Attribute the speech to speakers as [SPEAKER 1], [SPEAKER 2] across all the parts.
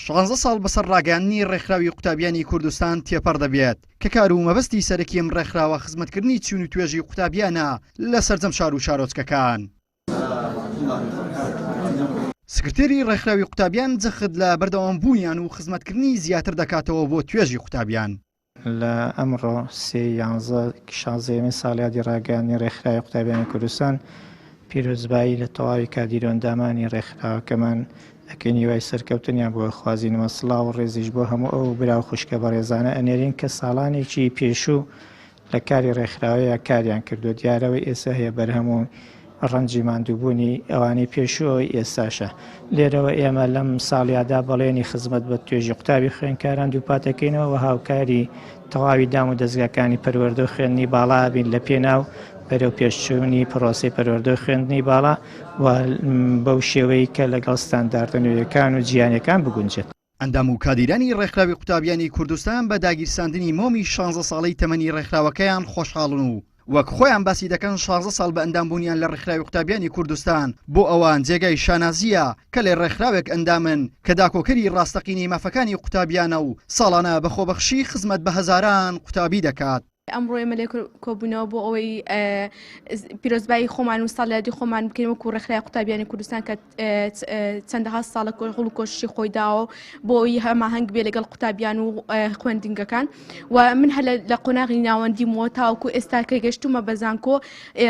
[SPEAKER 1] شانزە ساڵ بەسەر ڕاگەیاندنی ڕێکخراوی قوتابیانی کوردستان تێپەڕ دەبێت کە کار و مەبەستی سەرەکی ئەم ڕێکخراوە خزمەتکردنی چین و توێژی قوتابیانە لە سەرجەم شار و شارۆچکەکان. سکرتێری ڕێکخراوی قوتابیان جەخت لە بەردەوامبوونیان و خزمەتکردنی زیاتر دەکاتەوە بۆ توێژی قوتابیان. لە
[SPEAKER 2] ئەمڕۆ سێ یانزە شازدەیەمین ساڵیادی ڕاگەیاندنی ڕێکخراوی قوتابیانی کوردستان پیرۆزبایی لە تەواوی کادیرو ئەندامانی ڕێکخراوەکەمان ئەکەین هیوای سەرکەوتنیان بۆ ئەخوازینەوە سڵاو و ڕێزیش بۆ هەموو ئەو برا و خوشکە بەڕێزانە ئەنێرین کە ساڵانێکی پێشوو لە کاری ڕێکخراوەیە کاریان کردووە دیارەوەی ئێستا هەیە بەرهەم و ڕەنجی ماندووبوونی ئەوانەی پێشووەوەی ئێستاشە. لێرەوە ئێمە لەم ساڵیادا بەڵێنی خزمەت بە توێژی قوتابی خوێندکاران دووپاتەکەینەوە و هاوکاری تەواوی دام و دەزگاکانی پەروەردە و خوێندنی باڵا بین لە پێناو بەرەو پێشچوونی پرۆسی پەروەردە و خوێندنی باڵا و بەو شێوەی کە لەگەڵ ستانداردە نوێیەکان و جیانەکان بگونجێت. ئەندام و کادیرانی
[SPEAKER 1] ڕێکخراوی قوتابیانی کوردستان بە داگیرساندنی مۆمی شانزە ساڵەی تەمەنی ڕێکخراوەکەیان خۆشحاڵن و وەک خۆیان باسی دەکەن شانزە ساڵ بە ئەندام بوونیان لە ڕێکخراوی قوتابیانی کوردستان بۆ ئەوان جێگای شانازییە کە لە ڕێکخراوێک ئەندامن کە داکۆکەری ڕاستەقینەی مافەکانی قوتابیانە و ساڵانە بە خۆبەخشی خزمەت بە هەزاران قوتابی دەکات. ئەمڕۆ ئێمە لێ
[SPEAKER 3] کۆبوونەوە بۆ ئەوەی پیرۆزبایی خۆمان و ساڵیادی خۆمان بکەین وەکو ڕێکخرای قوتابیانی کوردستان کە چەندەها ساڵە کۆ هەڵ و کۆشی خۆی داوە بۆی هەماهنگ بێ لەگەڵ قوتابیان و خوێندنگەکان و من هەر لە قۆناغی ناوەندی مۆ تاوکو ئێستا کە گەشتومە بەزانکۆ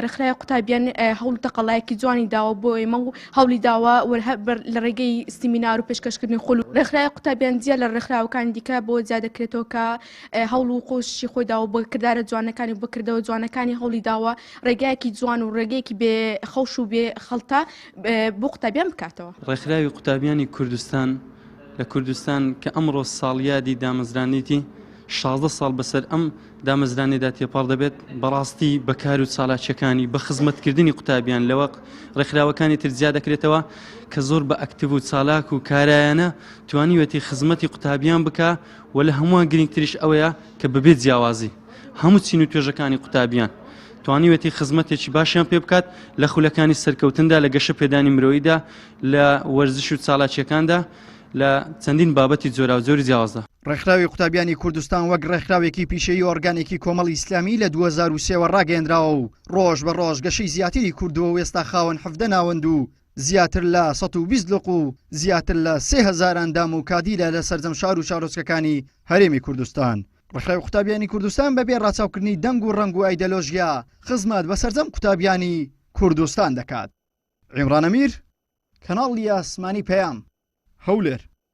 [SPEAKER 3] ڕێکخرای قوتابیان هەوڵ تەقەڵایەکی جوانی داوە بۆ ئێمە و هەوڵی داوە لە ڕێگەی سیمینار و پێشکەشکردنی خول ڕێکخرای قوتابیان جیا لە ڕێکخراوەکان دیکە بۆ جیا دەکرێتەوە کە هەوڵ و قۆششی خۆی داوە بە کردارە جوانەکانی و بەکردەوە جوانەکانی هەوڵی داوە ڕێگایەکی جوان و ڕێگەیەکی بێ خەوش و بێ خەڵتە بۆ قوتابیان بکاتەوە. ڕێکخراوی قوتابیانی
[SPEAKER 4] کوردستان لە کوردستان کە ئەمڕۆ ساڵیادی دامەزرانیتی شازدە ساڵ بەسەر ئەم دامەزرانێدا تێپەڕ دەبێت بەڕاستی بەکار و چالاکیەکانی بە خزمەتکردنی قوتابیان لەوە ڕێکخراوەکانی تر زیاد دەکرێتەوە کە زۆر بە ئەکتیو و چالاک و کارایانە توانیوەتی خزمەتی قوتابیان بکە و لە هەمووان گرینگتریش ئەوەیە کە بەبێ جیاوازی هەموو چین و توێژەکانی قوتابیان توانیوێتی خزمەتێکی باشیان پێ بکات لە خولەکانی سەرکەوتندا لە گەشە پێدانی مرۆییدا لە وەرزش و چالاکیەکاندا لە چەندین بابەتی جۆراوجۆری جیاوازدا. ڕێکخراوی قوتابیانی
[SPEAKER 1] کوردستان وەک ڕێکخراوێکی پیشەیی ئۆرگانێکی کۆمەڵی ئیسلامی لە دوو هەزار و سێ وە ڕاگەیەندراوە و ڕۆژ بە ڕۆژ گەشەی زیاتری کردووە و ئێستا خاوەن حەڤدە ناوەند و زیاتر لە سەد و بیست لق و زیاتر لە سێ هەزار ئەندام و کادیرە لە سەرجەم شار و شارۆچکەکانی هەرێمی کوردستان. ڕێکخراوی قوتابیانی کوردستان بەبێ ڕاچاوکردنی دەنگ و ڕەنگ و ئایدەلۆژیا خزمەت بە سەرجەم قوتابیانی کوردستان دەکات. عیمران ئەمیر، کەناڵی ئاسمانی پەیام، هەولێر.